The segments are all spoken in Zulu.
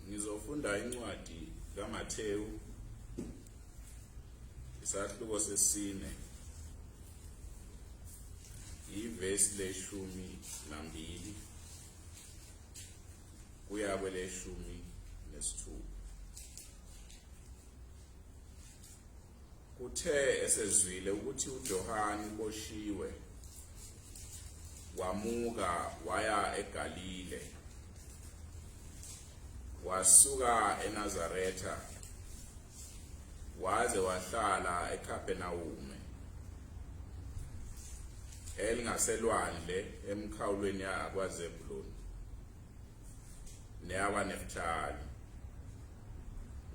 ngizofunda incwadi kaMathewu isahluko sesine ivesi leshumi nambili kuya kweleshumi nesithupha Kuthe esezwile ukuthi uJohane uboshiwe, wamuka waya eGalile. Wasuka eNazaretha waze wahlala eKhapernawume elingaselwandle emkhawulweni yakwaZebuloni. neyakwaNefthali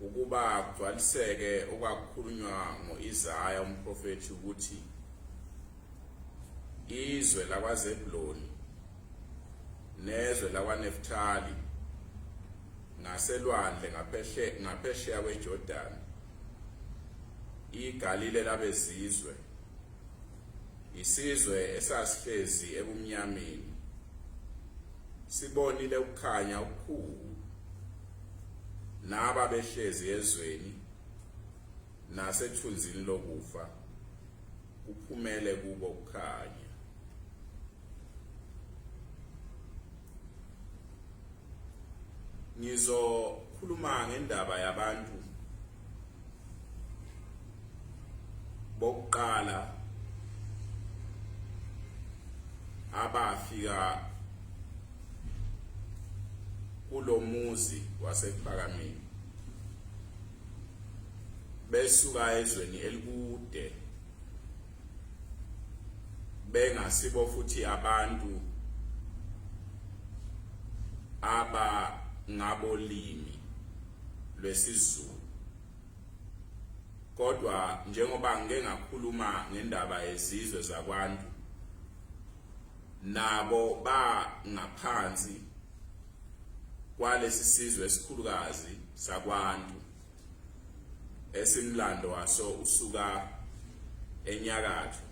ukuba kugcwaliseke okwakukhulunywa ngo-Isaya umprofethi ukuthi izwe lakwaZebuloni nezwe lakwaNefthali ngaselwandle ngapheshe ngaphesheya kweJordan iGalile labezizwe Isizwe esasihlezi ebumnyameni sibonile ukukhanya okukhulu naba behlezi ezweni nasethunzini lokufa kuphumele kubo ukukhanya ngizokhuluma ngendaba yabantu bokuqala abafika kulomuzi wasekuphakameni besuka ezweni elikude bengasibo futhi abantu aba ngabolimi lwesiZulu kodwa njengoba ngike ngakhuluma ngendaba yezizwe zakwantu nabo bangaphansi kwalesi sizwe esikhulukazi sakwantu esimlando waso usuka enyakatho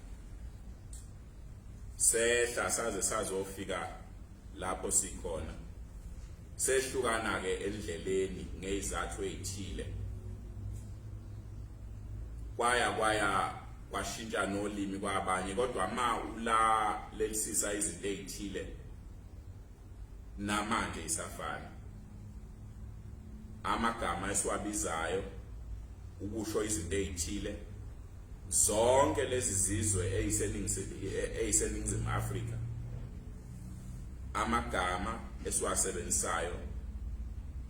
sehla saze sazofika lapho sikhona sehlukana ke endleleni ngezathu ezithile kwaya kwaya kwashintsha nolimi kwabanye kodwa ma ula lelisisa izinto ezithile namanje isafana amagama esiwabizayo ukusho izinto ezithile zonke lezi zizwe eyiseningizimu Afrika amagama esiwasebenzisayo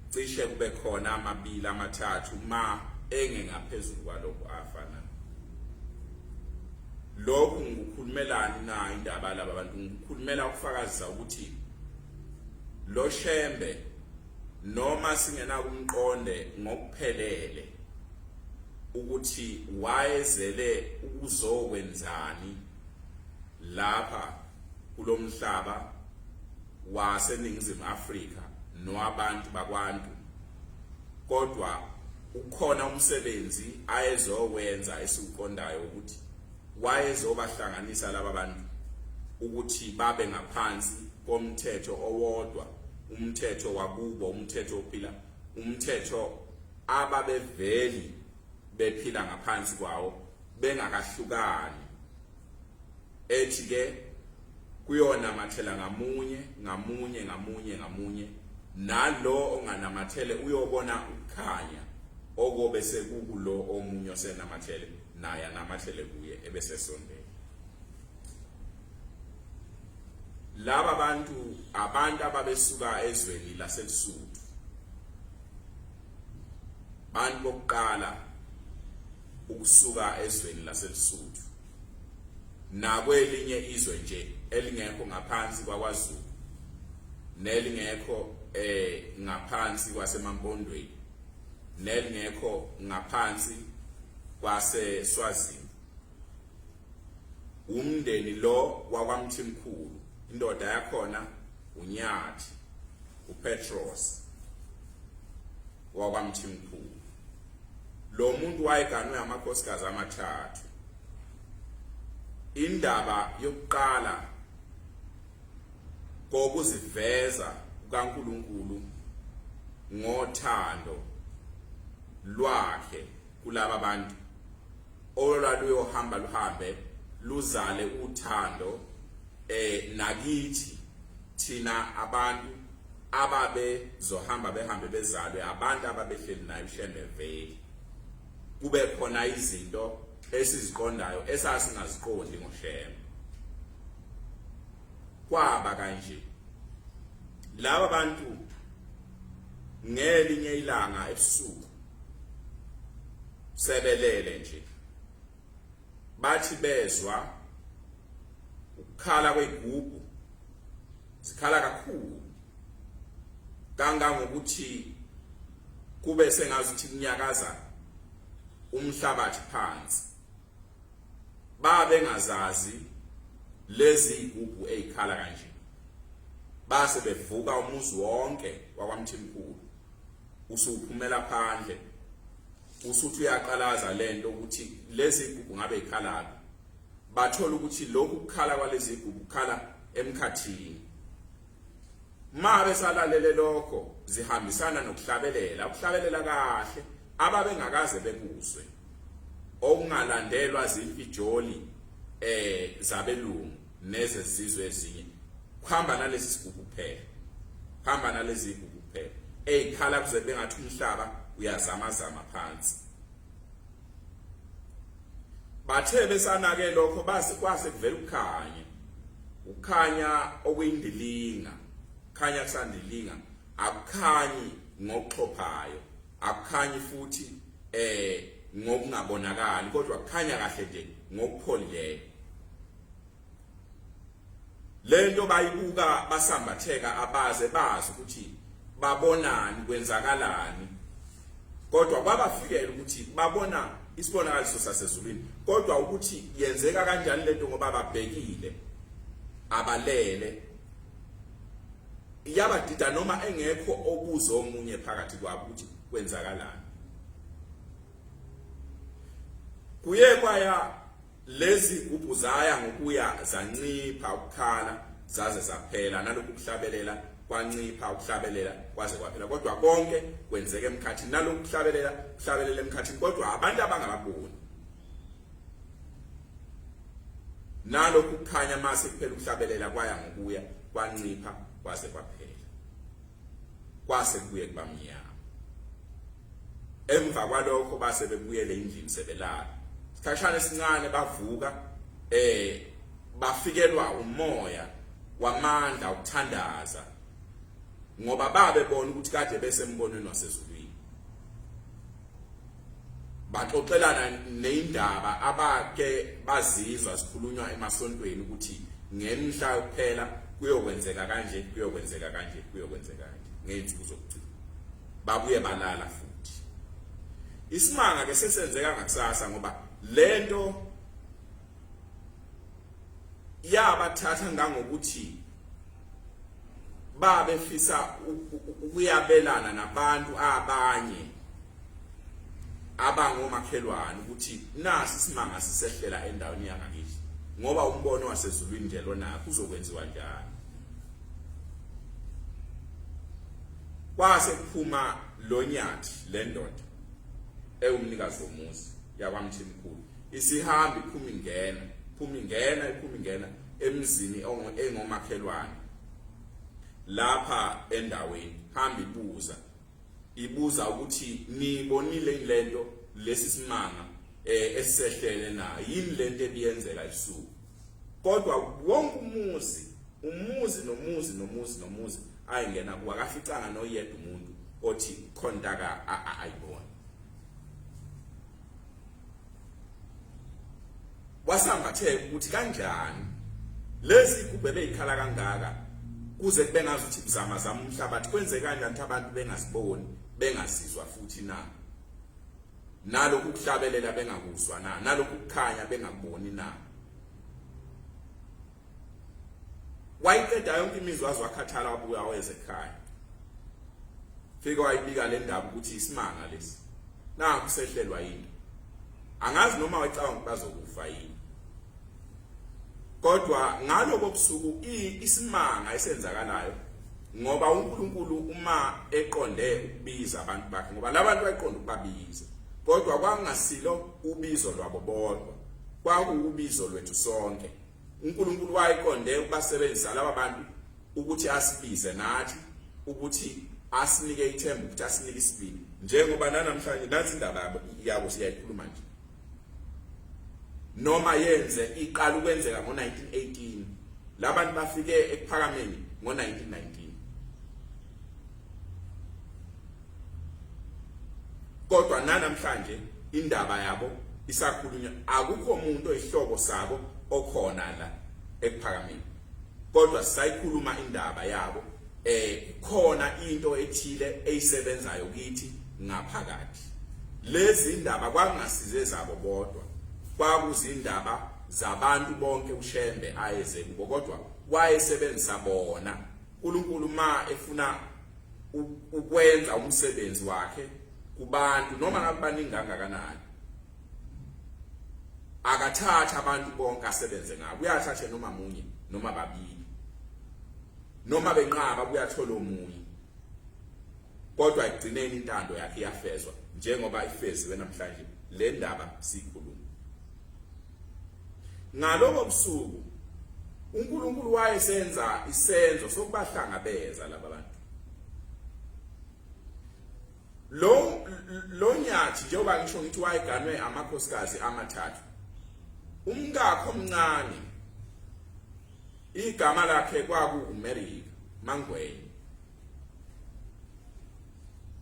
cishe kube khona amabili amathathu ma engengaphezulu kwalokho afana lokhu ngikukhulumelani na indaba laba bantu ngikukhulumela ukufakazisa ukuthi lo shembe noma singenakumqonde ngokuphelele ukuthi wayezele ukuzokwenzani lapha kulomhlaba waseningizimu Afrika nowabantu bakwantu kodwa ukhona umsebenzi ayezowenza esiwuqondayo ukuthi wayezobahlanganisa laba bantu ukuthi babe ngaphansi komthetho owodwa umthetho wakubo umthetho ophila umthetho ababeveli bephila ngaphansi kwawo bengakahlukani ethi ke kuyona mathela ngamunye ngamunye ngamunye ngamunye nalo onganamathele uyobona ukukhanya okobe sekukulo omunye osenamathele naye anamathele kuye ebesesondela laba bantu abantu ababesuka ezweni laseLusuthu bantu bokuqala ukusuka ezweni laseLusuthu nakwelinye izwe nje elingekho ngaphansi kwaKwaZulu nelingekho eh ngaphansi kwaseMampondweni nelingekho ngaphansi kwaseSwazini umndeni lo wakwamthimkhulu indoda yakhona unyathi upetros wakwamthimkhulu lo muntu wayeganwe amakhosikazi amathathu indaba yokuqala kokuziveza kukaNkuluNkulu ngothando lwakhe kulaba bantu olwaluyohamba luhambe luzale uthando eh nakithi thina abantu ababe zohamba behambe bezalwe abantu ababehleli nayo ushembe veli kube khona izinto esiziqondayo esasingaziqondi ngoshembe kwaba kanje laba bantu ngelinye ilanga ebusuku sebelele nje bathi bezwa ukukhala kweyigugu zikhala kakhulu kangangokuthi kube sengazuthi kunyakaza umhlabathi phansi babe ngazazi lezi igubhu ezikhala kanje base bevuka umuzi wonke wakwamthimkhulu usuphumela phandle usuthi uyaqalaza lento ukuthi lezi gugu ngabe ikhalaphi bathola ukuthi lokhu kukhala kwalezi gugu kukhala emkhathini ma besalalele lokho zihambisana nokuhlabelela ukuhlabelela kahle ababengakaze bekuzwe okungalandelwa zimfijoli eh zabelungu nezezizwe ezinye kuhamba nalesi sigugu kuphela kuhamba nalezi igugu kuphela eyikhala kuze bengathi umhlaba uyazama zama phansi bathe besanake lokho base kwase kuvela ukukhanya ukukhanya okuyindilinga khanya kusandilinga akukhanyi ngokuxhophayo akukhanyi futhi eh ngokungabonakali kodwa kukhanya kahle nje ngokupholileyo lento bayibuka basambatheka abaze bazi ukuthi babonani kwenzakalani kodwa kwabafikela ukuthi babona isibonakaliso sasezulwini kodwa ukuthi yenzeka kanjani lento ngoba babhekile abalele iyabadida noma engekho obuzo omunye phakathi kwabo ukuthi kwenzakalani kuye kwaya Lezi gubhu zaya ngokuya zancipha ukukhala zaze zaphela nalokhu kuhlabelela kwancipha ukuhlabelela kwaze kwaphela kodwa konke kwenzeka emkhathini nalokhu kuhlabelela kuhlabelela emkhathini kodwa abantu abangababoni nalokhu kukhanya mase kuphela ukuhlabelela kwaya ngokuya kwancipha kwaze kwaphela kwase kuye kubamnyama emva kwalokho base bebuyele endlini sebelala isikhashana esincane bavuka eh bafikelwa umoya wamandla ukuthandaza ngoba babe bona ukuthi kade besembonweni wasezulwini baxoxelana neindaba abake bazizwa sikhulunywa emasontweni ukuthi ngemhla kuphela kuyokwenzeka kanje kuyokwenzeka kanje kuyokwenzeka kanje ngezinsuku zokugcina babuye balala futhi isimanga ke sesenzeka ngakusasa ngoba lento yabathatha ngangokuthi babefisa ukuyabelana nabantu abanye abangomakhelwane ukuthi nasi isimanga sisehlela endaweni yangakithi ngoba umbono wasezulwini nje lona kuzokwenziwa njani Kwase kuphuma lonyathi lendoda ewumnikazi womuzi yakwamthimkhulu isihambi phumi ngena phumi ngena iphumi ngena emzini engomakhelwane lapha endaweni hamba ibuza ibuza ukuthi nibonile lento lesi simanga eh, esisehlele na yini lento ebiyenzeka ebusuku kodwa wonke umuzi umuzi nomuzi nomuzi nomuzi ayengena kuwa kaficanga noyedwa umuntu othi khontaka ayibona wasambatheka ukuthi kanjani lezi igubhe beyikhala kangaka kuze kube ngazi ukuthi kuzama zama umhlabathi kwenzekani kanti abantu bengaziboni bengazizwa futhi na nalokhu kuhlabelela bengakuzwa na nalokhu kukhanya bengakuboni na wayiqeda yonke imizwa waze wakhathala wabuya weze ekhaya fike wayibika le ndaba ukuthi isimanga lesi naku sehlelwa yini angazi noma wayicabanga ukuthi bazokufa yini kodwa ngalobo busuku isimanga esenzakalayo ngoba uNkulunkulu uma eqonde ukubiza abantu bakhe ngoba labantu bayiqonda ukubabiza kodwa kwangasilo ubizo lwabo bodwa kwakuwubizo lwethu sonke uNkulunkulu wayiqonde ukubasebenzisa laba bantu ukuthi asibize nathi ukuthi asinike ithemba ukuthi asinike isibindi njengoba nanamhlanje nansi indaba yabo siyayikhuluma nje noma yenze iqala ukwenzeka ngo-1918 labantu bafike ekuphakameni ngo-1919 kodwa nanamhlanje indaba yabo isakhulunywa akukho umuntu oyihlobo sabo okhona la ekuphakameni kodwa sisayikhuluma indaba yabo eh khona into ethile eyisebenzayo kithi ngaphakathi lezi ndaba kwangasize zabo bodwa kwakuzindaba zabantu bonke uShembe ayeze kubo kodwa wayesebenzisa bona uNkulunkulu ma efuna ukwenza umsebenzi wakhe kubantu noma ngakubaningi kangakanani akathatha abantu bonke asebenze ngabo uyathatha noma munye noma babili noma benqaba kuyathola omunye kodwa ekugcineni intando yakhe iyafezwa njengoba ifeziwe namhlanje le ndaba siyikhuluma ngaloko busuku uNkulunkulu wayesenza isenzo sokubahlangabeza laba bantu lo lo nyathi njengoba ngisho ngithi wayeganwe amakhosikazi amathathu umkakho omncane Igama lakhe kwaku uMerika Mangweni.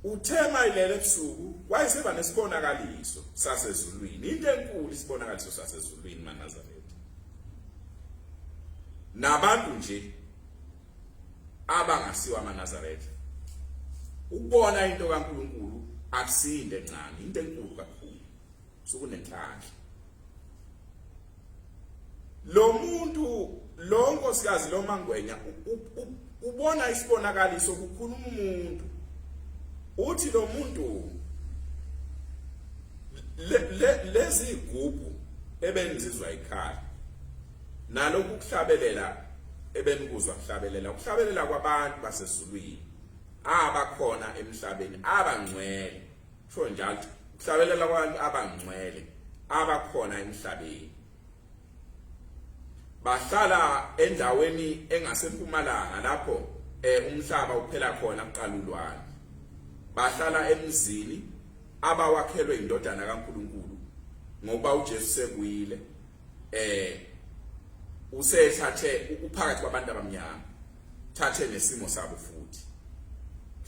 Uthe mayilele ebusuku wayeseba nesibonakaliso sasezulwini. Into enkulu isibonakaliso sasezulwini maNazaretha. Nabantu nje abangasiwa amaNazaretha. Ukubona into kaNkuluNkulu akusinde ncane, into enkulu kakhulu. Sukunenhlanhla. lo muntu lo nkosikazi lo mangwenya ubona isibonakaliso kukhuluma umuntu uthi lo muntu lezi igubhu ebenizizwa ikhaya nalokhu kuhlabelela ebenikuzwa kuhlabelela ukuhlabelela kwabantu basezulwini abakhona emhlabeni abangcwele Kusho njalo ukuhlabelela kwabantu abangcwele abakhona emhlabeni bahlala endaweni engasempumalanga lapho eh umhlaba uphela khona kuqalulwane bahlala emzini abawakhelwe indodana kaNkuluNkulu ngoba uJesu sekuyile eh usethathe ukuphakathi kwabantu abamnyama thathe nesimo sabo futhi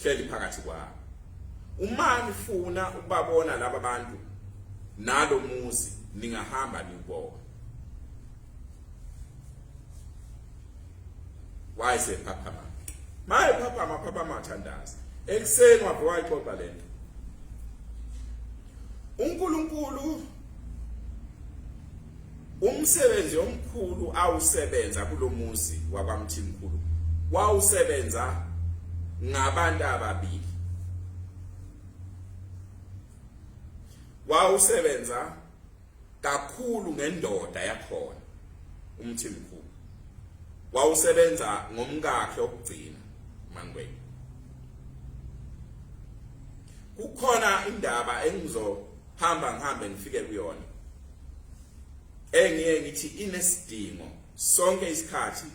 hleli phakathi kwabo uma nifuna ukubabona laba bantu nalo muzi ningahamba niwubona wayise phaphama maye phaphama phaphama thandaza ekuseni wabhwa ixoxa lento uNkulunkulu umsebenzi omkhulu awusebenza kulomuzi wakwamthimkhulu wawusebenza ngabantu ababili wawusebenza kakhulu ngendoda yakhona umthimkhulu wawusebenza ngomkakhe okugcina mangweni kukhona indaba engizo hamba ngihambe ngifike kuyona engiye ngithi inesidingo sonke isikhathi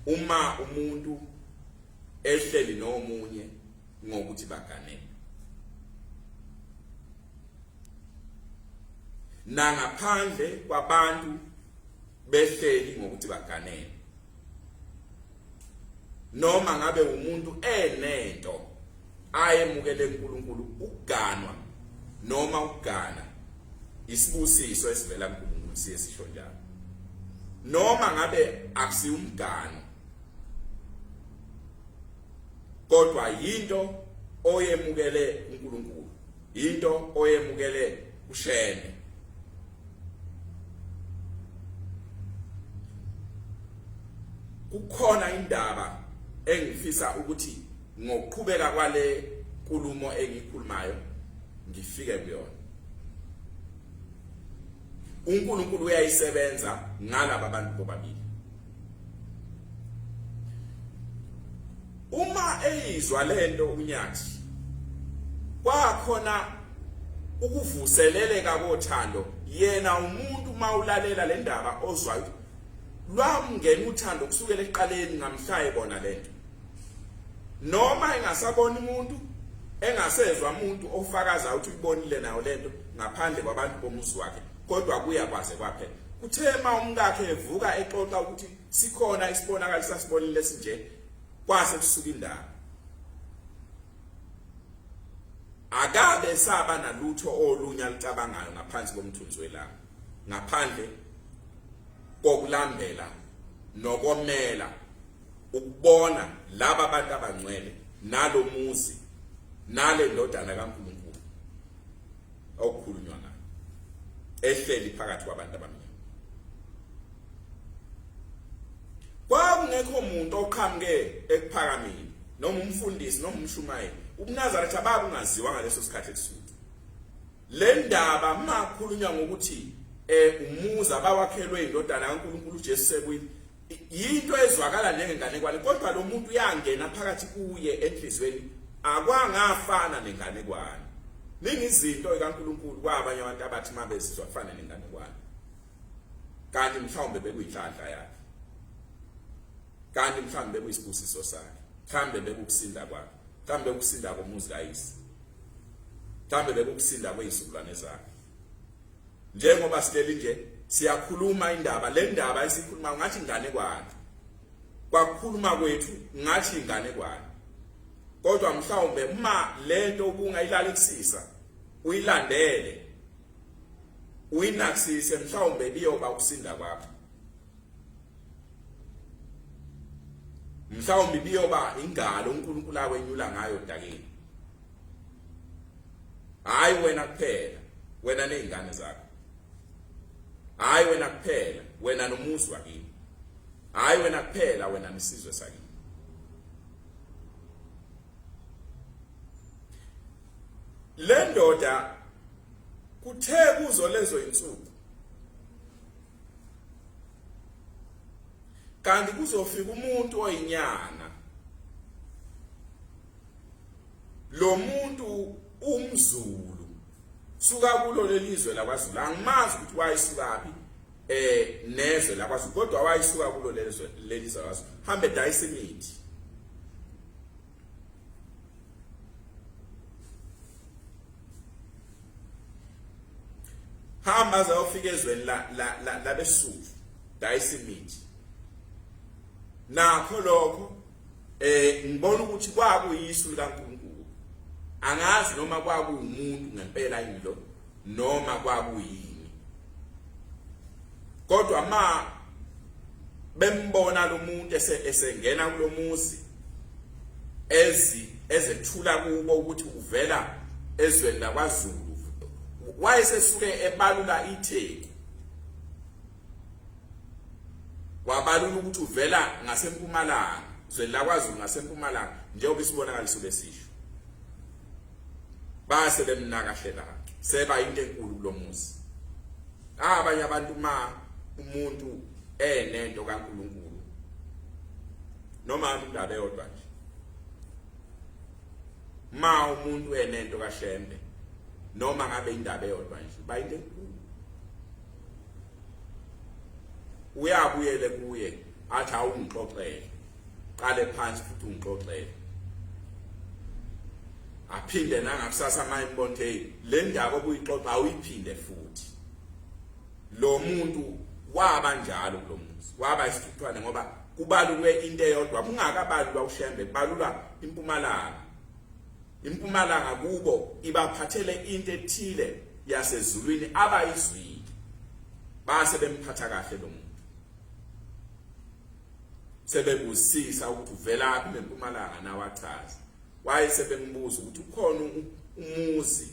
uma umuntu ehleli nomunye ngokuthi baganene nangaphandle kwabantu behleli ngokuthi baganene noma ngabe umuntu enento ayemukele uNkulunkulu ukuganwa noma ukugana isibusiso esivela kuNkulunkulu siye sisho njalo noma ngabe akusiwumgano kodwa yinto oyemukele uNkulunkulu into oyemukele ushene kukhona indaba engifisa ukuthi ngokuqhubeka kwale nkulumo engikhulumayo ngifike kuyona uNkulunkulu uyayisebenza ngalabo bantu bobabili uma eyizwa lento unyathi kwakhona ukuvuseleleka kothando yena umuntu mawulalela le ndaba ozwa lwamngena uthando kusukela eqaleni ngamhlaye bona lento noma engasabona umuntu engasezwa umuntu ofakaza ukuthi uyibonile nayo lento ngaphandle kwabantu bomuzi wakhe kodwa kuya kwaze kwaphela Uthe uma umkakhe evuka exoxa ukuthi sikhona isibonakali sasibonile esinje kwase kusuka indaba. Akabe saba nalutho olunya licabangayo ngaphansi komthunzi welanga ngaphandle kokulambela nokomela ukubona laba bantu abangcwele nalomuzi nale ndodana kaNkulunkulu awukhulunywa ngayo ehleli phakathi kwabantu abamnyama kwakungekho muntu oqhamuke ekuphakameni noma umfundisi noma umshumayeli ubunazaretha abakungaziwa ngaleso sikhathi esuthi le ndaba makhulunywa ngokuthi eh umuzi abawakhelwe indodana kaNkuluNkulu uJesu sekuyini yinto ezwakala njengenganekwane kodwa lo muntu uyangena phakathi kuye enhlizweni akwangafana nenganekwane ningi izinto ikaNkuluNkulu kwabanye abantu abathi mabezizwa kufana nenganekwane kanti mhlawumbe bekuyinhlanhla yakhe kanti mhlawumbe bekuyisibusiso sakhe mhlawumbe bekukusinda kwakhe mhlawumbe bekukusinda komuzi kayise mhlawumbe bekukusinda kwezizukulwane zakhe njengoba sihleli nje siyakhuluma indaba le ndaba esikhuluma ngathi ingane kwani kwakukhuluma kwethu ngathi ingane kwani kodwa mhlawumbe uma le nto ubungayilalelisisa uyilandele uyinaksise mhlawumbe biyoba ukusinda kwakho mhlawumbe ibiyoba ingalo uNkulunkulu akwenyula ngayo dakini hayi wena kuphela wena nezingane zakho hayi wena kuphela wena nomuzi wakini hayi wena kuphela wena nesizwe sakini le ndoda kuthe kuzo lezo insuku kanti kuzofika umuntu oyinyanga lo muntu umzulu suka kulo lelizwe lakwaZulu angimazi ukuthi wayisukaphi eh nezwe lakwaZulu kodwa wayisuka kulo lelizwe lelizwe lakwaZulu hambe dayisa imithi hamba aze ayofika ezweni labesuku dayisa imithi nakho lokho eh ngibona ukuthi kwakuyisu likaNkulunkulu angazi noma kwakuwumuntu ngempela yini lo noma kwakuyini kodwa ma bembona lo muntu esengena kulomuzi ezi ezethula kubo ukuthi uvela ezweni lakwaZulu wayesesuke ebalula itheku wabalula ukuthi uvela ngasempumalanga zweni lakwaZulu ngasempumalanga njengoba isibonakaliso lesisho base bemnaka hlelaka seba into enkulu kulomuzi abanye abantu ma umuntu enento kaNkuluNkulu noma indaba eyodwa nje ma umuntu enento kaShembe noma ngabe indaba eyodwa nje bayinto enkulu uyabuyele kuye athi awungixoxele qale phansi futhi ungixoxele aphinde nangakusasa manje mbonke hey le ndaba obuyixoxa awuyiphinde futhi lo muntu waba njalo lo muzi waba isithuthwane ngoba kubalulwe into eyodwa kungakabalulwa ushembe kubalulwa impumalanga impumalanga kubo ibaphathele into ethile yasezulwini abayizwile base bemphatha kahle lo muntu sebebusisa ukuthi uvelaphi nempumalanga nawachaza waye sebembuza ukuthi ukhona umuzi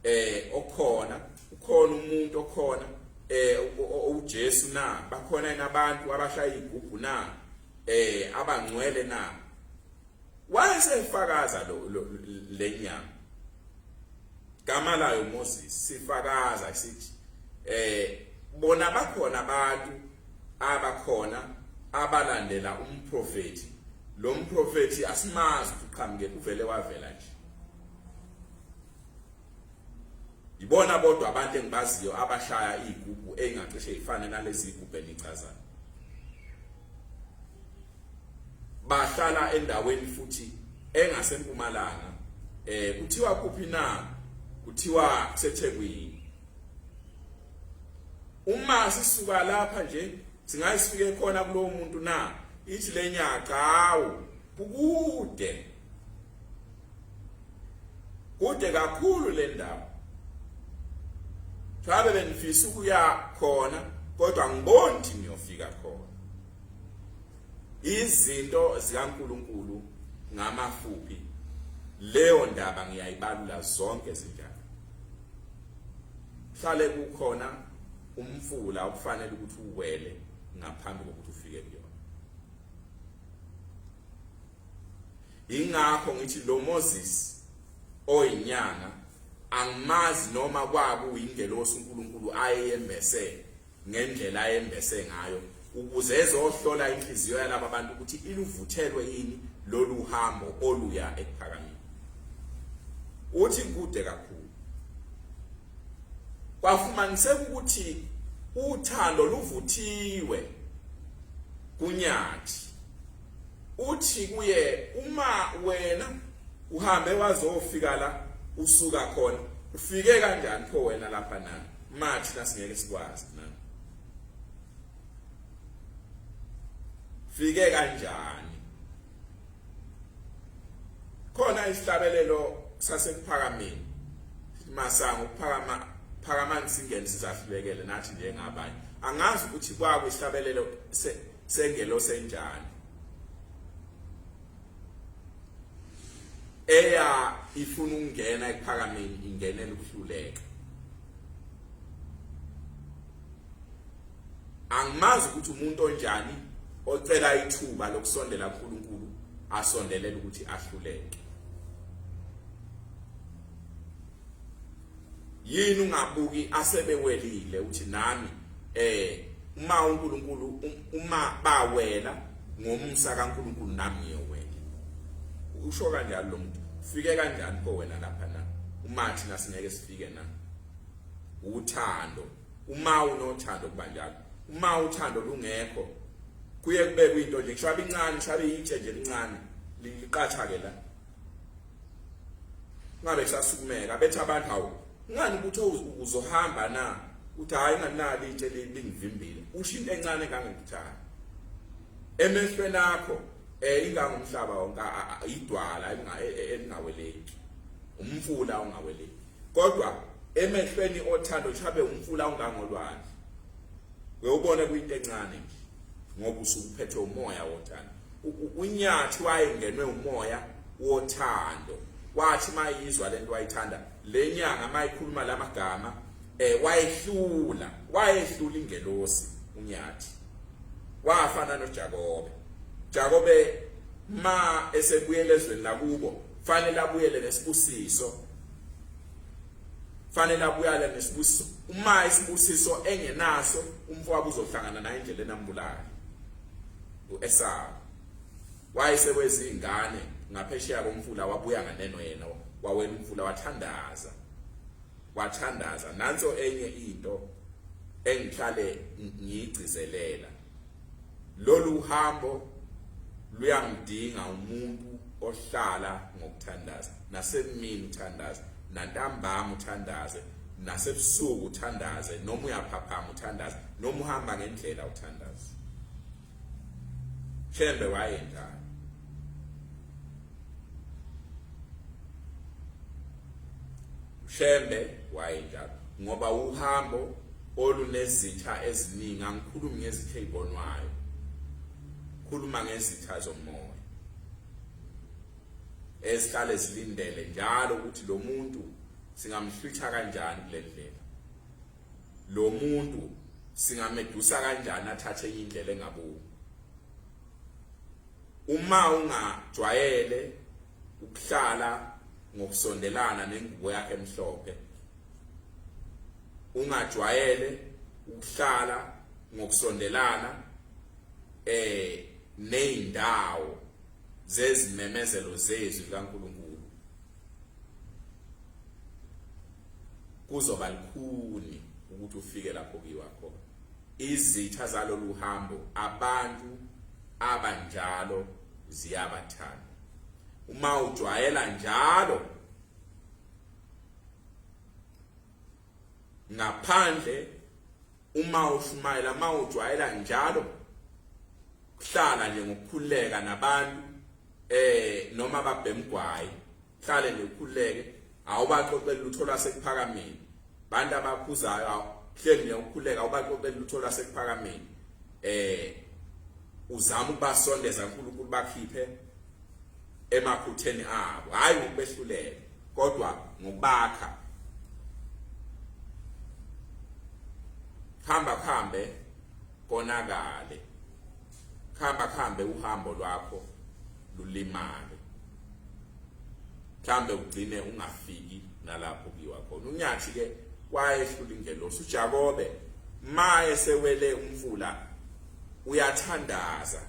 eh okhona ukhona umuntu okhona eh uJesu na bakhona yena abantu abashaya igubhu na eh abangcwele na wayesefakaza lo lenyama gama layo Moses sifakaza sithi eh bona bakhona abantu abakhona abalandela umprofeti lo mprofeti asimazi uqhamuke kuvele wavela nje ibona bodwa abantu engibaziyo abashaya izigubu engacishe ifane nalezi izigubu enichazayo bahlala endaweni futhi engasempumalanga eh kuthiwa kuphi na kuthiwa kuseThekwini uma sisuka lapha nje singayisifike khona kulowo muntu na ithi lenyaka hawu kukude kude kakhulu le ndawo Ngabe bengifisa ukuya khona kodwa ngiboni ukuthi ngiyofika khona. izinto zikaNkuluNkulu ngamafuphi leyo ndaba ngiyayibalula zonke izindaba hlale kukhona umfula okufanele ukuthi uwele ngaphambi kokuthi ufike kuyona ingakho ngithi lo Moses oyinyanga angimazi noma kwaku uyingelosi uNkulunkulu ayeyembese ngendlela ayembese ngayo ukuze ezohlola inhliziyo yalaba bantu ukuthi iluvuthelwe yini lolu hambo oluya ekuphakameni uthi kude kakhulu kwafumaniseka ukuthi uthando luvuthiwe kunyathi uthi kuye uma wena uhambe wazofika la usuka khona ufike kanjani pho wena lapha nami manje thina singeke sikwazi na fike kanjani khona isihlabelelo sasekuphakameni masango ukuphakama phakamani singene sizahlulekele nathi njengabanye angazi ukuthi kwakwe isihlabelelo sengelo senjani eya ifuna ukungena ekuphakameni ingenela ukuhluleka angimazi ukuthi umuntu onjani ocela ithuba lokusondela kuNkulunkulu asondelele ukuthi ahluleke yini ungabuki asebewelile uthi nami eh uma uNkulunkulu um, uma bawela ngomsa kaNkulunkulu nami ngiyowela usho kanjalo lo muntu ufike kanjani ko wena lapha na uma thina singeke sifike na uthando uma unothando kuba njalo uma uthando lungekho kuye kubekwe into nje kushabe incane kushabe itshe nje lincane liqatha ke la ngabe kusasukumeka bethe abantu hawu ngani ukuthi uzohamba na uthi hayi nganali itshe lingivimbile usho into encane kangekuthayo emehlweni akho eh ingangomhlaba wonke idwala e, e, elingaweleki umfula ongaweleki kodwa emehlweni othando chabe umfula ongangolwandle uyobona kuyinto encane nje ngoba usukuphethwe umoya wothando unyathi wayengenwe umoya wothando wathi mayizwa lento wayithanda lenyanga mayikhuluma lamagama eh wayehlula wayehlula ingelosi unyathi wafana noJakobe Jakobe ma esebuyele ezweni lakubo fanele abuyele nesibusiso fanele abuyale nesibusiso uma isibusiso engenaso umfowabo uzohlangana naye indlela enambulala uEsawu wayesekwezingane ngaphesheya komfula wabuya nganeno yena wawela umfula wathandaza wathandaza nanso enye into engihlale ngiyigcizelela lolu hambo luyangidinga umuntu ohlala ngokuthandaza nasemini uthandaze nantambama uthandaze nasebusuku uthandaze noma uyaphaphama uthandaze noma uhamba ngendlela uthandaze shembe wayenjani shembe wayenjalo ngoba uhambo olunezitha eziningi angikhulumi ngezitha ezibonwayo khuluma ngezitha zomoya esihlale silindele njalo ukuthi lo muntu singamhlwitha kanjani kule ndlela lo muntu singamedusa kanjani athathe enye indlela engabuki uma ungajwayele ukuhlala ngokusondelana nengubo yakhe emhlophe ungajwayele ukuhlala ngokusondelana eh nezindawo zezimemezelo zezwi likaNkulunkulu kuzoba lukhuni ukuthi ufike lapho kuyiwa khona izitha zalolu hambo abantu abanjalo ziyabathanda uma ujwayela njalo ngaphandle uma ushumayela uma ujwayela njalo kuhlala nje ngokukhuleka nabantu eh noma babhemgwayi hlale nje ukhuleke awubaxoxeli lutho lasekuphakameni bantu abakhuzayo awuhleli nje ukhuleka awubaxoxeli lutho lasekuphakameni eh uzama ukubasondeza uNkulunkulu bakhiphe emaphutheni abo hayi ngokubehlulela kodwa ngokubakha hamba kuhambe konakale hamba kuhambe uhambo lwakho lulimale mhlambe ugcine ungafiki nalapho kuyiwa khona unyathi ke wayehlula ingelosi uJakobe maye sewele umfula uyathandaza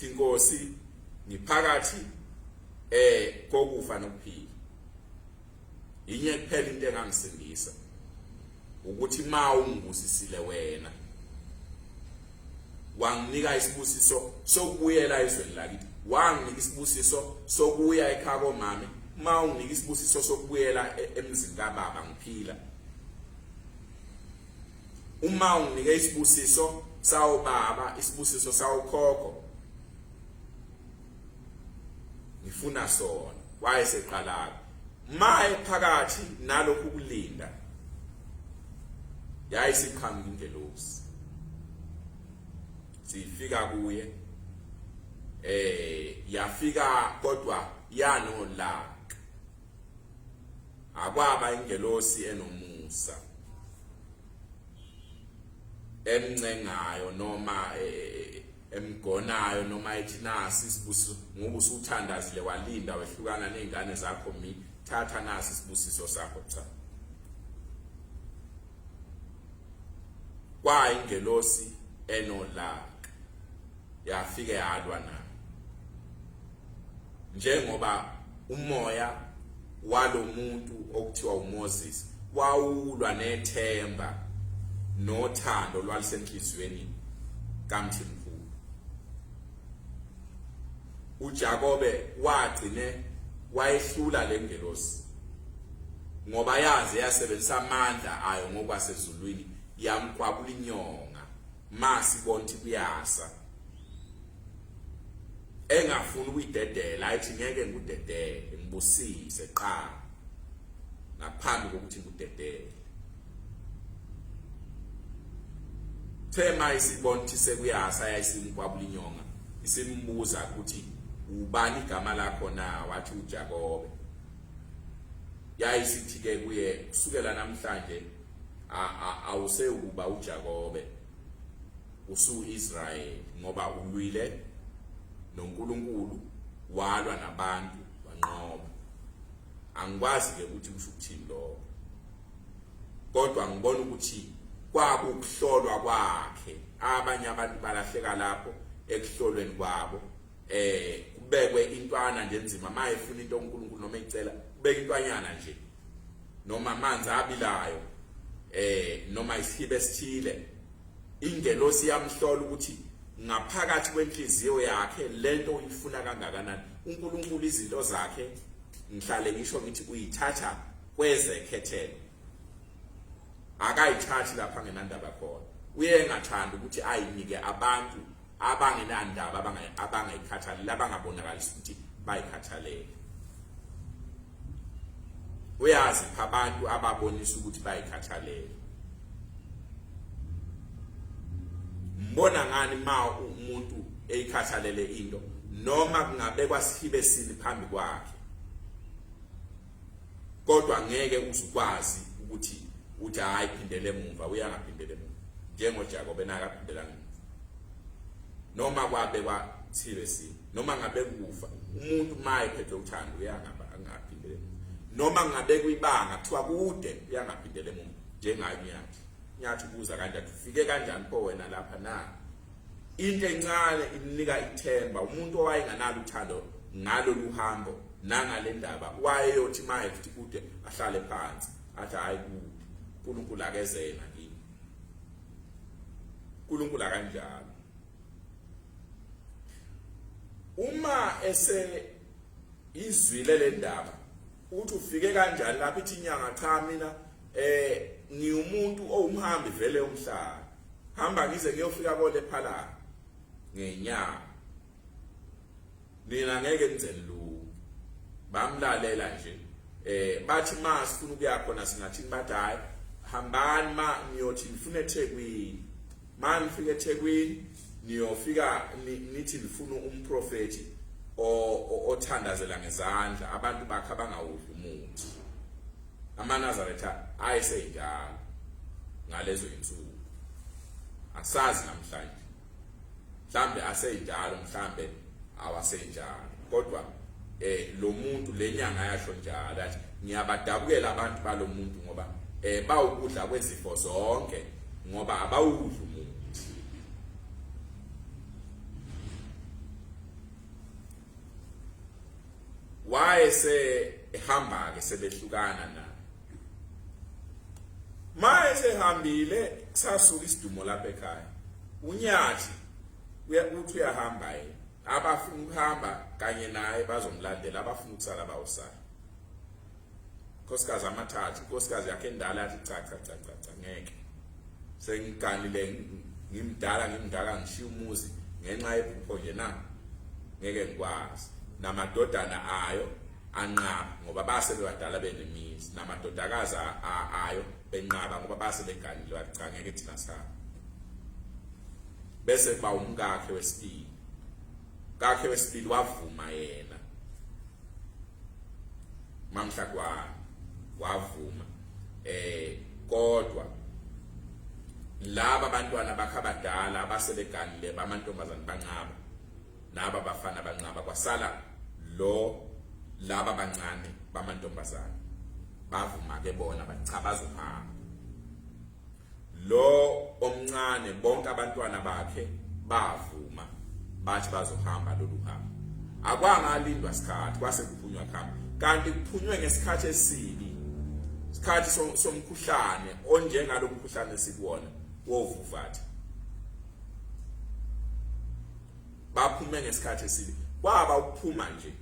Inkosi ngiphakathi eh kokufa nokuphila yinye kuphela into engangisindisa ukuthi ma ungibusisile wena wanginika isibusiso sokubuyela ezweni lakithi wanginika isibusiso sokuya ekhaya komama uma unginika isibusiso sokubuyela e-, emzini kababa ngiphila uma unginike isibusiso sawo baba isibusiso sawo khokho ngifuna sona wayeseqalaka maye phakathi nalokhu kulinda yayisiqhamu ingelosi sifika kuye eh yafika kodwa yanolaka akwaba ingelosi enomusa emncengayo noma e, e, e, emgonayo noma ethi nasi isibusiso ngoba usuthandazile walinda wehlukana nezingane zakho mi thatha nasi isibusiso sakho cha kwayingelosi enolaka yafike yalwa nami njengoba umoya walomuntu okuthiwa uMoses wawulwa nethemba nothando lwalisenhlizweni kaMthi mkhulu uJakobe wagcine wayehlula lengelosi ngoba yaze yasebenzisa amandla ayo ngokwasezulwini yamkwabula inyonga masi bonti kuyasa engafuni ukuyidedela ayithi ngeke ngikudedele ngibusise qala ngaphambi kokuthi ngikudedele thema isibonthi sekuyasa yayisimkwabula inyonga isimbuza ukuthi ubani igama lakho na wathi uJakobe yayisithi ke kuye kusukela namhlanje awusewukuba uJakobe usuIsrael ngoba ulwile noNkulunkulu walwa nabantu wanqoba angikwazi ke ukuthi kusho ukuthini lokho kodwa ngibona ukuthi kwakukuhlolwa kwakhe abanye abantu balahleka lapho ekuhlolweni kwabo eh kubekwe intwana nje enzima mayefuna into uNkulunkulu noma icela kubeka intwanyana nje noma amanzi abilayo eh noma isihibe esithile ingelosi yamhlola ukuthi ngaphakathi kwenhliziyo yakhe lento uyifuna kangakanani uNkulunkulu izinto zakhe ngihlale ngisho ngithi uyithatha kwezekhethelo akayithathi lapha ngenandaba khona uye engathanda ukuthi ayinike abantu abangenandaba abangayikhathalele abangabonakalisa ukuthi bayikhathalele uyazi abantu ababonisa ukuthi bayikhathalele mbona ngani ma umuntu eyikhathalele into noma kungabekwa sihibe sini phambi kwakhe kodwa ngeke uzukwazi ukuthi uthi hayi phindele emuva uyangaphindele emuva njengoJakobe benaka phindela ngemuva noma kwabe kwa TVC noma ngabe kufa umuntu maye phethe uthando uyangaba angaphindele noma ngabe kuyibanga kuthiwa kude uyangaphindele emuva njengayo nyathi nyathi ubuza kanjani ufike kanjani po wena lapha na Into encane imnika ithemba umuntu owayenganalo uthando ngalolu hambo nangale ndaba wayeyothi maye futhi kude ahlale phansi athi hayi uNkulunkulu akezena kimi uNkulunkulu akanjalo uma ese izwile le ndaba ukuthi ufike kanjani lapho ithi inyanga cha mina eh ngiwumuntu owumhambi vele umhlaba hamba ngize ngiyofika kole phala ngenyanga nina ngeke nizeni lu bamlalela nje eh bathi ma sifuna ukuya khona singathi bathi hayi hambani ma ngiyothi ngifuna eThekwini ma nifika ethekwini niyofika nithi nifuna umprofethi othandazela ngezandla abantu bakhe abangawudli umuthi amanazaretha ayesenjalo ngalezo insuku asazi namhlanje mhlambe asenjalo mhlambe awasenjalo kodwa eh lo muntu lenyanga yasho njalo athi ngiyabadabukela abantu balomuntu ngoba eh bawukudla kwezifo zonke ngoba abawudlu wayese ehamba ke sebehlukana na maye sehambile sasuka isidumo lapha ekhaya unyathi uyakuthi uyahamba yena abafuna ukuhamba kanye naye bazomlandela abafuna ukusala bawusala nkosikazi amathathu nkosikazi yakhe endala yathi cha cha cha cha cha ngeke sengiganile ngimdala ngimdala ngishiya umuzi ngenxa yephupho nje na ngeke ngikwazi namadodana ayo anqaba ngoba base bebadala benemizi namadodakazi ayo benqaba ngoba base beganile wathi cha ngeke thina sihamba bese kuba umkakhe wesibili kakhe wesibili wavuma yena mamhla kwa wavuma eh kodwa laba bantwana bakhe abadala abasebeganile bamantombazane banqaba naba bafana banqaba kwasala lo laba bancane bamantombazane bavuma ke bona bachabaza uhamba lo omncane bonke abantwana bakhe bavuma bathi bazohamba lolu hambo akwangalindwa sikhathi kwase kuphunywa khamba kanti kuphunywe ngesikhathi esibi isikhathi somkhuhlane onjengalo mkhuhlane sikuwona wovuvathi baphume ngesikhathi esibi kwaba ukuphuma nje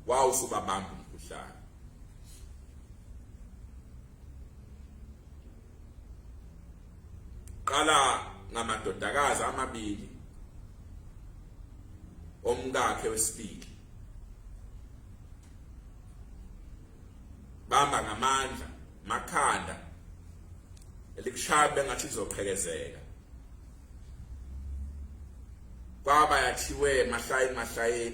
wawusubabamba umkhuhlane qala ngamadodakazi amabili omkakhe wesibili bamba ngamandla makhanda elikushaya bengathi izoqhekezeka kwaba yathiwe mahlaya mahlaya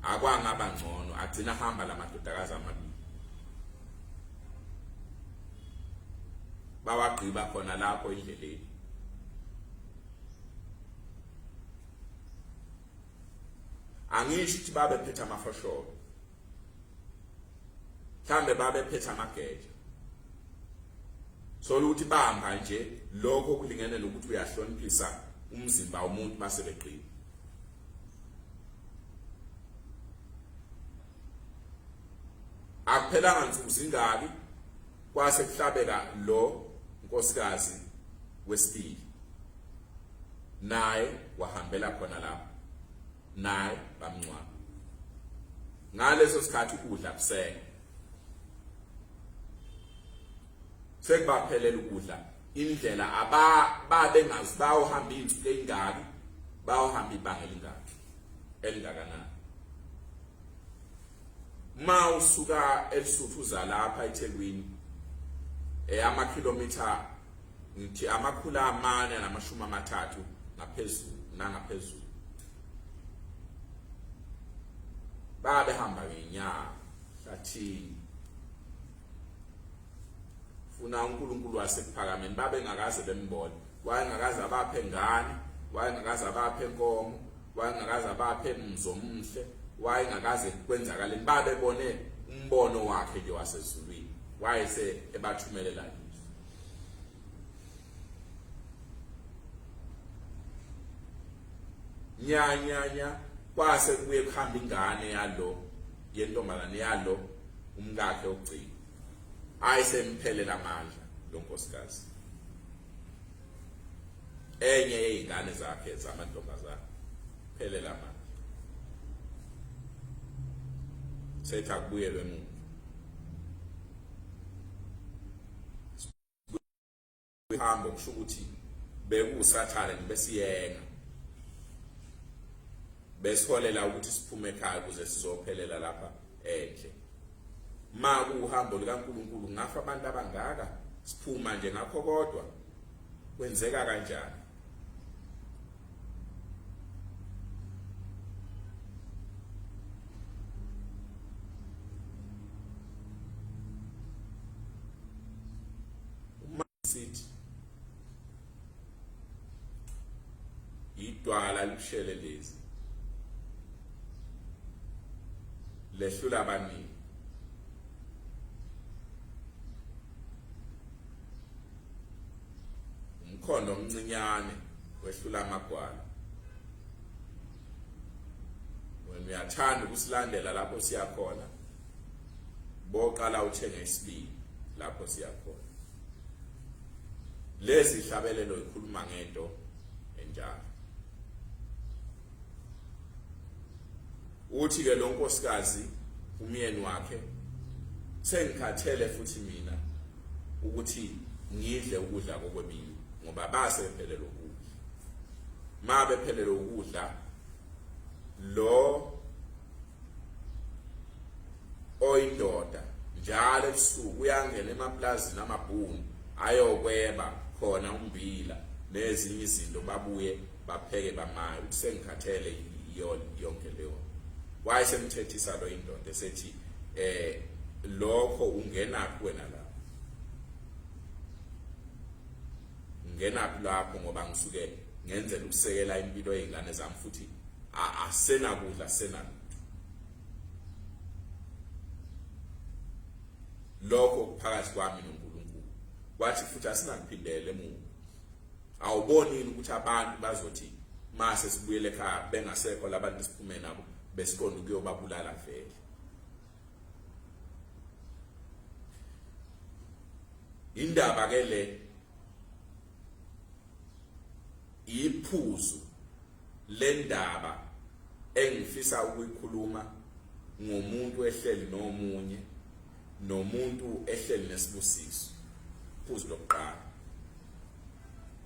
akwangaba ngcono agcina hamba lamadodakazi amabili bawagqiba khona lapho indleleni angisho ukuthi babephethe amafosholo mhlambe babephethe amageja sola ukuthi bamba nje lokho kulingene nokuthi uyahloniphisa umzimba womuntu base beqina akuphelanga nsuku zingaki kwase kuhlabeka lo nkosikazi wesibili naye wahambela khona lapho naye bamncwaba ngaleso sikhathi ukudla kusele sekubaphelela ukudla indlela aba babe ngazi bayohamba izinsuku ezingaki bayohamba ibanga elingaki elingakanani ma usuka elisuthu uza lapha eThekwini eyama kilometer ngithi amakhulu amane namashumi amathathu ngaphezulu nangaphezulu babe hamba ngenyanga hlathini funa uNkulunkulu wasekuphakameni babe ngakaze bembone wayengakaze abaphe ngane wayengakaze abaphe nkomo wayengakaze abaphe mzomuhle wayengakaze kwenzakaleni babebone umbono wakhe nje wasezulwini wayese ebathumelela nya nya nya kwase kubuye kuhamba ingane yalo yentombazane yalo umkakhe ogcina hayi semphelela amandla lo nkosikazi enye yezingane zakhe zamantombazane phelela amandla setha kubuyelwe emuva uhambo kusho ukuthi bekuwusathane besiyena besiholela ukuthi siphume ekhaya ukuze sizophelela lapha endle ma kuwuhambo likaNkulunkulu ngafa abantu abangaka siphuma nje ngakho kodwa kwenzeka kanjani sithi idwala lishele lezi lehlula abaningi umkhondo omncinyane wehlula amagwala wena uyathanda ukusilandela lapho siya khona boqala uthenge isibili lapho siya khona lezi hlabelelo ikhuluma ngento enjalo uthi ke lonkosikazi umyeni wakhe sengikhathele futhi mina ukuthi ngidle ukudla kokwemini ngoba base bephelele ukudla ma bephelele ukudla lo oyindoda njalo ebusuku uyangena emaplazini amabhunu ayokweba khona umbila nezinye izinto babuye bapheke bamaye ukuthi sengikhathele yiyona yonke leyo wayesemthethisa lo indoda esethi eh lokho ungenaphi wena la ngenaphi lapho ngoba ngisuke ngenzela ukusekela impilo yezingane zami futhi asenakudla senalo lokho kuphakathi kwami noNkulunkulu wathi futhi asinakuphindele emuva awuboni yini ukuthi abantu bazothi mase sibuyele ekhaya bengasekho labantu siphume nabo besiqonda ukuyobabulala vele indaba ke le iphuzu le ndaba engifisa ukuyikhuluma ngomuntu ehleli nomunye nomuntu ehleli nesibusiso phuzu lokuqala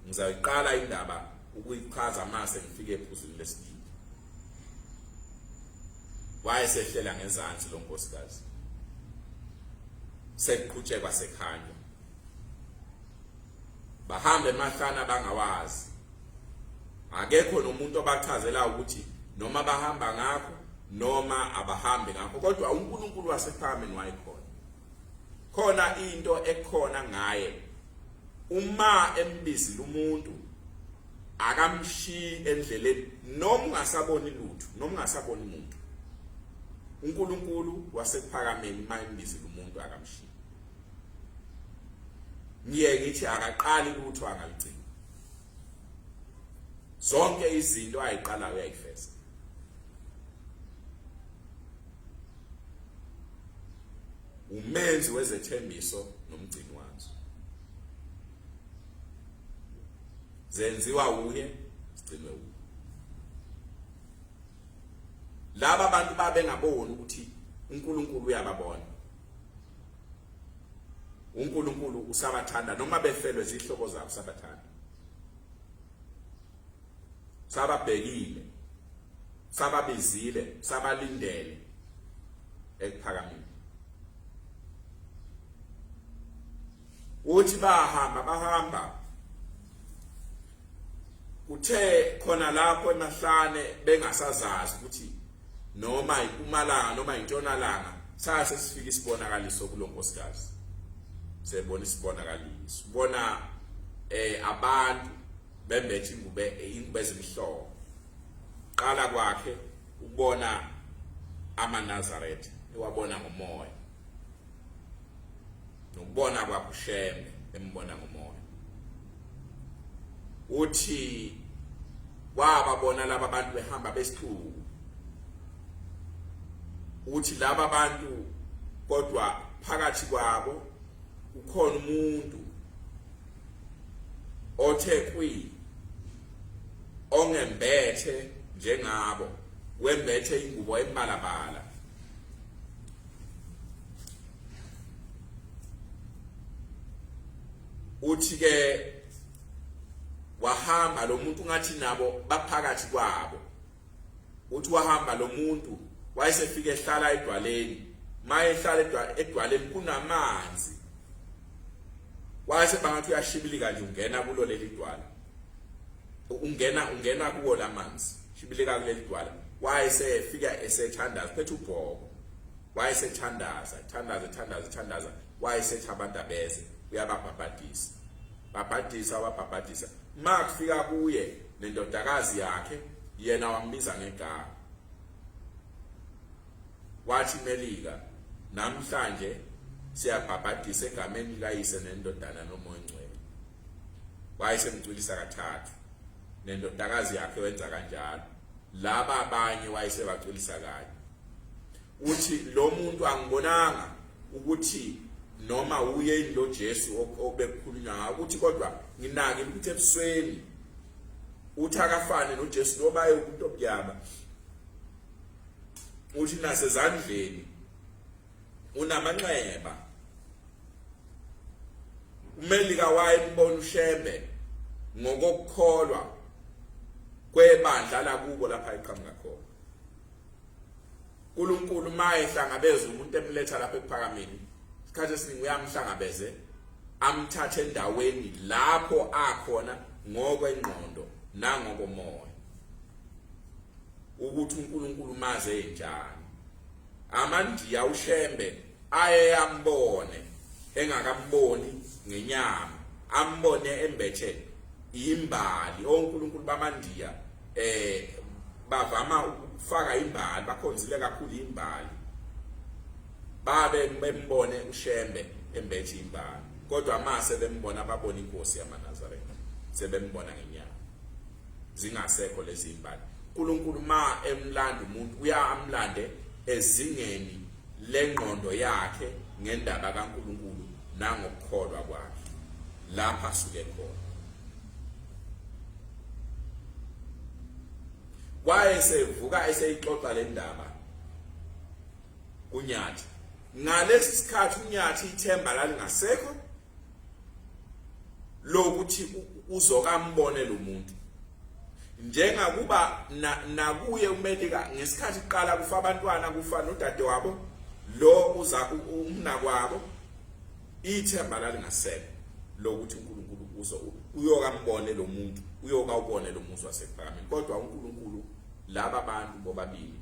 ngizayiqala indaba ukuyichaza mase ngifike ephuzwini lesibili wayesehlela ngezansi lo nkosikazi sekuqhutshekwa sekhanya bahambe emahlana bangawazi akekho nomuntu obachazela ukuthi noma bahamba ngakho noma abahambi ngakho kodwa uNkulunkulu wasephakameni wayekhona khona into ekhona ngaye uma embizile umuntu akamshiyi endleleni noma ungasaboni lutho noma ungasaboni umuntu uNkulunkulu wasephakameni uma embizile umuntu akamshiyi ngiye ngithi akaqali lutho angaligcini zonke izinto ayiqalayo uyayifeza umenzi wezethembiso nomgcini wazo zenziwa uye sigcinwe uye laba bantu babengaboni ukuthi uNkulunkulu uyababona uNkulunkulu usabathanda noma befelwe zihlobo zabo sabathanda sababhekile sababizile sabalindele ekuphakameni uthi bahamba bahamba kuthe khona lapho emahlane bengasazazi ukuthi noma impumalanga noma intshonalanga saya sesifika isibonakaliso kulonkosikazi sebona isibonakaliso ubona eh abantu bembethe ingube ingube ezimhlophe qala kwakhe ukubona amaNazaretha ewabona ngomoya nokubona kwakho usheme embona ngomoya uthi wababona laba bantu behamba besithuku uthi laba bantu kodwa phakathi kwabo ukhona umuntu othe kwi ongembethe njengabo wembethe ingubo embalabala uthi ke wahamba lo muntu ngathi nabo baphakathi kwabo uthi wahamba lo muntu wayesefike ehlala edwaleni maye ehlala edwaleni kunamanzi wayese bangathi uyashibilika nje ungena kulo leli dwala ungena ungena kuwo lamanzi shibileka kuleli dwala wayesefika esethandaza phethe ubhoko wayesethandaza thandaza thandaza thandaza wayesethi abantu abeze uyababhabhadisa babhadisa wabhabhadisa ma kufika kuye nendodakazi yakhe yena wambiza ngegama wathi melika namhlanje siyabhabhadisa egameni likayise nendodana nomoya ongcwele wayesemcwilisa kathathu nendodakazi yakhe wenza kanjalo laba abanye wayesebacwilisa kanye uthi lo muntu angibonanga ukuthi noma uye ilo Jesu obekukhulunywa ngayo ukuthi kodwa nginake ukuthi ebusweni uthi akafane noJesu noma eyomuntu obyama uthi nasezandleni unamanxeba umelika wayembona ushembe ngokukholwa kwebandla lakubo lapha iqhamuka khona uNkulunkulu maye hlangabeza umuntu emletha lapha ekuphakameni isikhathi esiningi uyamhlangabeze amthathe endaweni lapho akhona ngokwengqondo nangokomoya ukuthi uNkulunkulu maze enjani amandiya ushembe aye ambone engakamboni ngenyama ambone embethe imbali onkulunkulu bamandiya eh bavama ukufaka imbali bakhonzile kakhulu imbali babe bembone ushembe embethe imbali kodwa mase bembona babona inkosi yamanazaretha sebembona ngenyama zingasekho lezi imbali uNkulunkulu ma emlanda umuntu uyamlande ezingeni lengqondo yakhe ngendaba kaNkulunkulu nangokukholwa kwakhe lapha suke khona wayesevuka eseyixoxa le ndaba kunyathi ngalesi sikhathi unyathi ithemba lalingasekho lokuthi uzokambone lo muntu njengakuba nakuye umelika ngesikhathi kuqala kufa abantwana kufa nodade wabo lo uza umnakwabo ithemba lalingasekho lokuthi uNkulunkulu uzo uyokambone lo muntu uyoka ubone lo muzi wasephakameni kodwa uNkulunkulu laba bantu bobabili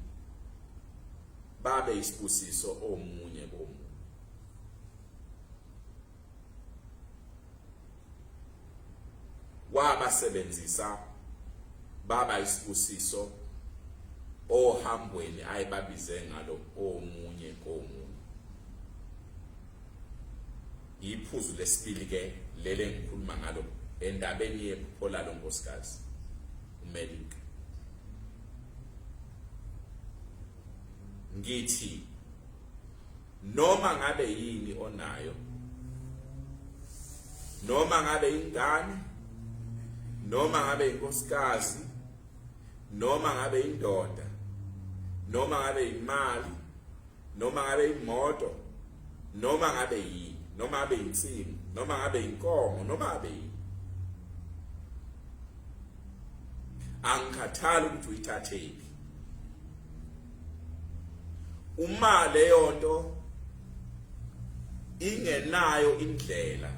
babe isibusiso omunye komunye wabasebenzisa baba isibusiso ohambweni ayebabize ngalo omunye komunye iphuzu lesibili ke lele ngikhuluma ngalo endabeni yephupho lalo nkosikazi umelika ngithi noma ngabe yini onayo noma ngabe ingane noma ngabe inkosikazi noma ngabe indoda noma ngabe imali noma ngabe imoto noma ngabe yini noma ngabe insimu noma ngabe inkomo noma ngabe yini angikhathali ukuthi uyithathephi uma leyo nto ingenayo indlela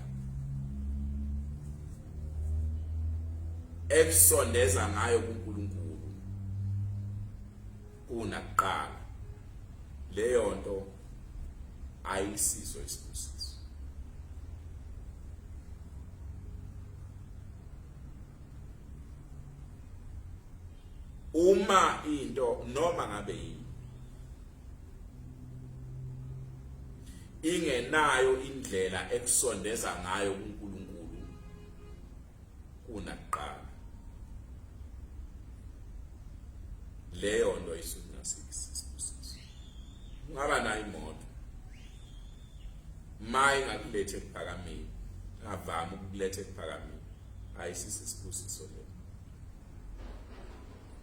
ekusondeza ngayo kuNkulunkulu kunakuqala leyo nto ayisiso isibusiso uma into noma ngabe yini ingenayo indlela ekusondeza ngayo kuNkulunkulu kunakuqala leyo nto isukungasikisibusiso ungaba nayo imoto maye ngakulethe ekuphakameni ngavama ukulethe ekuphakameni hayi sisi sibusiso le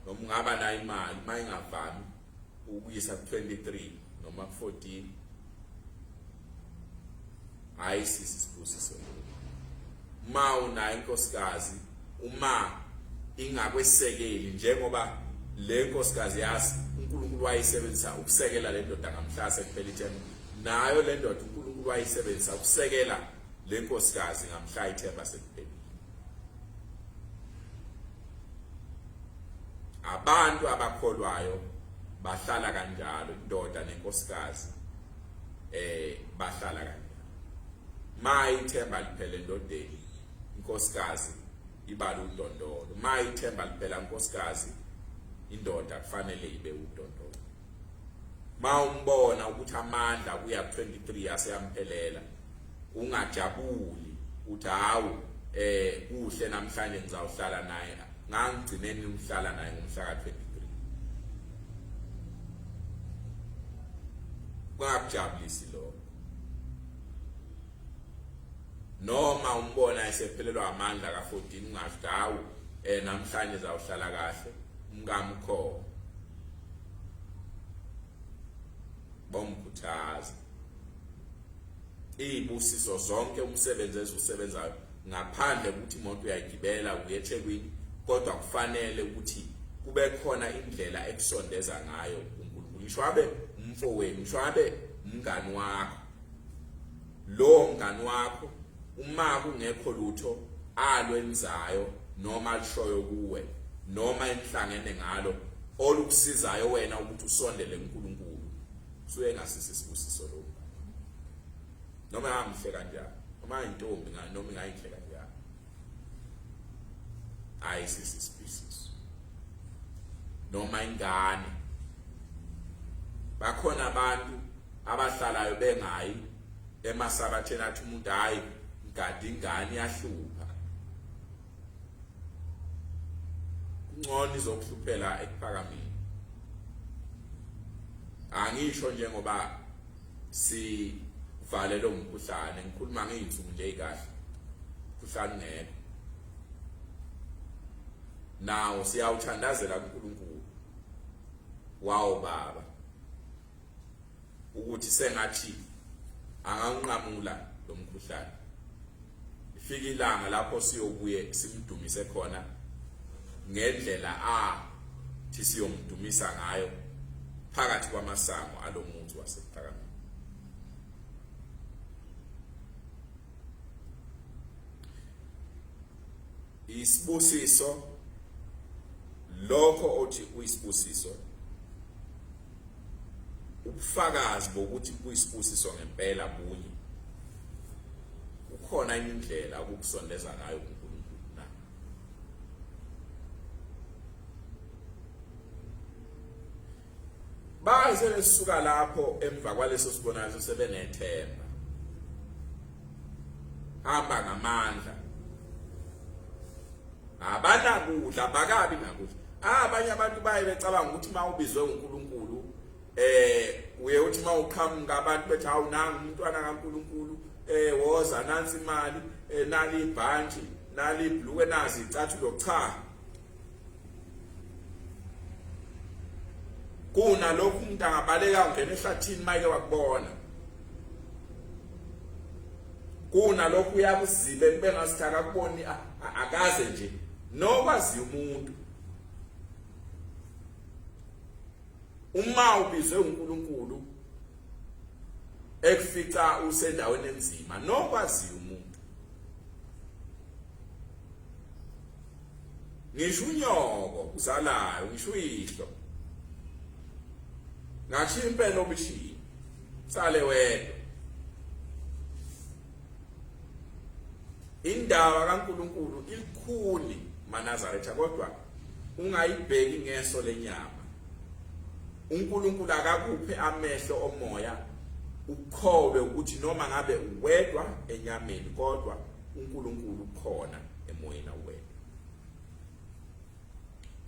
noma ungaba nayo imali uma ingavami ukuyisa ku-23 noma ku-14 hayi sisi sibusiso le uma unayo inkosikazi uma ingakwesekeli njengoba le nkosikazi yazi uNkulunkulu wayisebenzisa ukusekela le ndoda ngamhlase kuphela ithemba nayo le ndoda uNkulunkulu wayisebenzisa ukusekela Le nkosikazi ngamhlaya ithemba sekuphelile. Abantu abakholwayo bahlala kanjalo indoda nenkosikazi eh bahlala kanjalo. Mayi ithemba liphele ndodeni inkosikazi ibala udondolo. Mayi ithemba liphela inkosikazi indoda kufanele ibe udondolo. mawumbona ukuthi amandla kuya 23 aseyamphelela ungajabuli uthi hawu eh kuhle namhlanje ngizawuhlala naye ngangigcineni umhlala naye ngomhla ka 23 kungakujabulisi lokho noma umbona esephelelwa amandla ka 14 ungathi hawu eh namhlanje zawuhlala kahle umkamu khona bomkhuthaza izibusiso zonke umsebenzi eziwusebenzayo ngaphandle ukuthi imoto uyayigibela uyeThekwini kodwa kufanele ukuthi kube khona indlela ekusondeza ngayo uNkulunkulu ngisho abe umfowenu ngisho abe umngani wakho Lowo mngani wakho uma kungekho lutho alwenzayo noma alishoyo kuwe noma enihlangene ngalo olukusizayo wena ukuthi usondele kuNkulunkulu suye ngasisi isibusiso lo noma ngamhle kanjani noma intombi noma ingayinhle kanjani hayi sisi species noma ingane bakhona abantu abahlalayo bengayi emasabatheni athi umuntu hayi ngadi ingane yahlupha ngcono izokuhluphela ekuphakameni angisho njengoba sivale lo mkhuhlane ngikhuluma ngeyinsuku nje kahle mkhuhlane ngeke nawo siyawuthandazela kuNkulunkulu wawo baba ukuthi sengathi anganqamula lo mkhuhlane ifika ilanga lapho siyobuye simdumise khona ngendlela a thi siyomdumisa ngayo phakathi kwamasango alomuzi wasephakameni isibusiso lokho othi uyisibusiso ubufakazi bokuthi kuyisibusiso ngempela bunye kukhona indlela ukukusondeza ngayo kuNkulunkulu na baze besuka lapho emva kwaleso sibonakaliso sebenethemba hamba ngamandla abanakudla bakabi nakudla ah, abanye abantu baye becabanga ukuthi mawubizwe uNkulunkulu eh uye uthi mawuqhamuka abantu bethi hawu nangu umntwana kaNkulunkulu eh woza nansi imali eh, nali ibhanji nali ibhluke nazi icathulo cha kunalokhu umuntu angabaleka ungena ehlathini mayike wakubona kunalokhu uyakuzibe kube ngasithi akakuboni akaze nje nokwaziyo umuntu uma ubizwe uNkulunkulu ekufica usendaweni enzima nokwaziyo ngisho unyoko uzalayo ngisho uyihlo ngashiya impela obishini sale wedwa indaba kaNkuluNkulu ilikhuni manazaretha kodwa ungayibheki ngeso lenyama uNkulunkulu akakuphe amehlo omoya ukholwe ukuthi noma ngabe uwedwa enyameni kodwa uNkulunkulu ukhona emoyeni wenu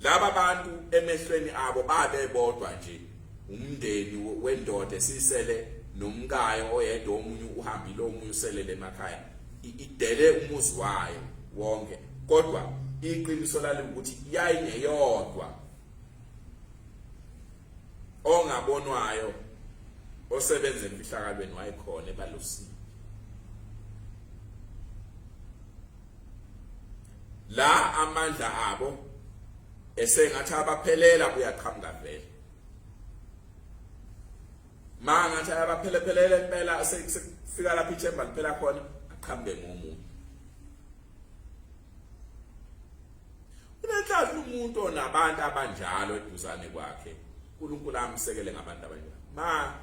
laba bantu emehlweni abo babe bodwa nje umndeni wendoda esisele nomkayo oyedwa omunye uhambile omunye uselele emakhaya idele umuzi wayo wonke kodwa iqiniso lalo ukuthi yayingeyodwa ongabonwayo osebenza emfihlakalweni wayekhona ebalosini la amandla abo esengathi abaphelela kuyaqhamuka vele mangathi ayabaphelephelele impela sekufika lapha ichemba liphela khona aqhamuke ngomunye Unenhlanhla umuntu onabantu abanjalo eduzane kwakhe. uNkulunkulu amsekele ngabantu abanjalo. Ma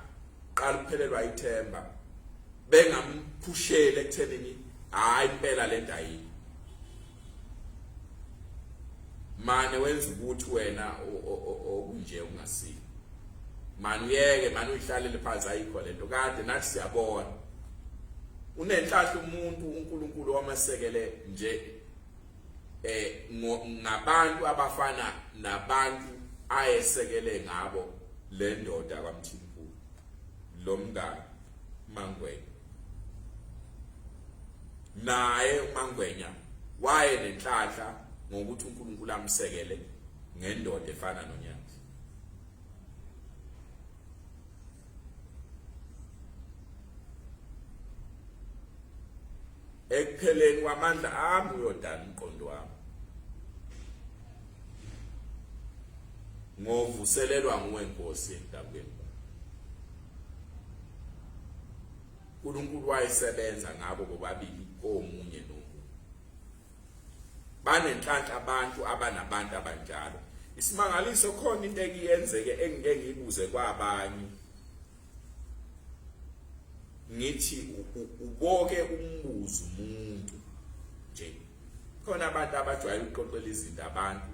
qala ukuphelelwa ithemba bengamphushele ekuthenini hayi impela lento ayikho. Mane wenza ukuthi wena okunje ungasile. Mani uyeke mani uyihlalele phansi ayikho lento kade nathi siyabona. Unenhlanhla umuntu uNkulunkulu wamasekele nje eh ngabantu abafana nabantu ayesekele ngabo le ndoda kwaMthimkhulu lo mngane Mangwenya naye uMangwenya waye nenhlanhla ngokuthi uNkulunkulu amsekele ngendoda efana nonyana ekupheleni kwamandla ami uyodala umqondo wami ngovuselelwa nguwe nkosi endabeni uNkulunkulu wayesebenza ngabo bobabili komunye nomunye banenhlanhla abantu abanabantu abanjalo isimangaliso khona into ekuyenzeke engike ngibuze kwabanye ngithi uboke umbuzo umuntu nje khona abantu abajwayele ukuqoqela izinto abantu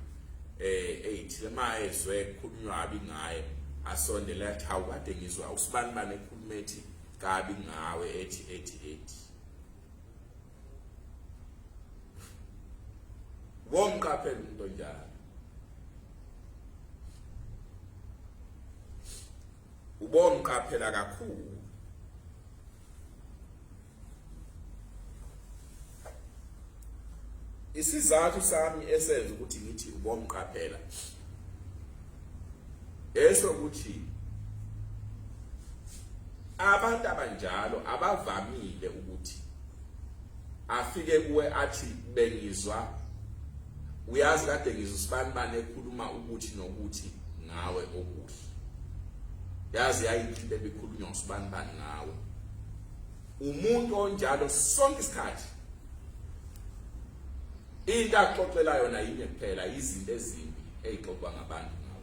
eh eyithile mayezwe kukhulunywa abi ngaye asondela athi hawu kade ngizwa usibani bane ekhuluma ethi kabi ngawe ethi ethi ethi womqaphela umuntu onjalo ubomqaphela kakhulu isizathu sami esenza ukuthi ngithi ubomqaphela esho ukuthi abantu abanjalo abavamile ukuthi afike kuwe athi bengizwa uyazi kade ngizwa usibani bani ekhuluma ukuthi nokuthi ngawe okuhle yazi yayinhle into ebikhulunywa usibani bani ngawe umuntu onjalo sonke isikhathi Into axoxela yona yinye kuphela izinto ezimbi ezixoxwa ngabantu ngawo.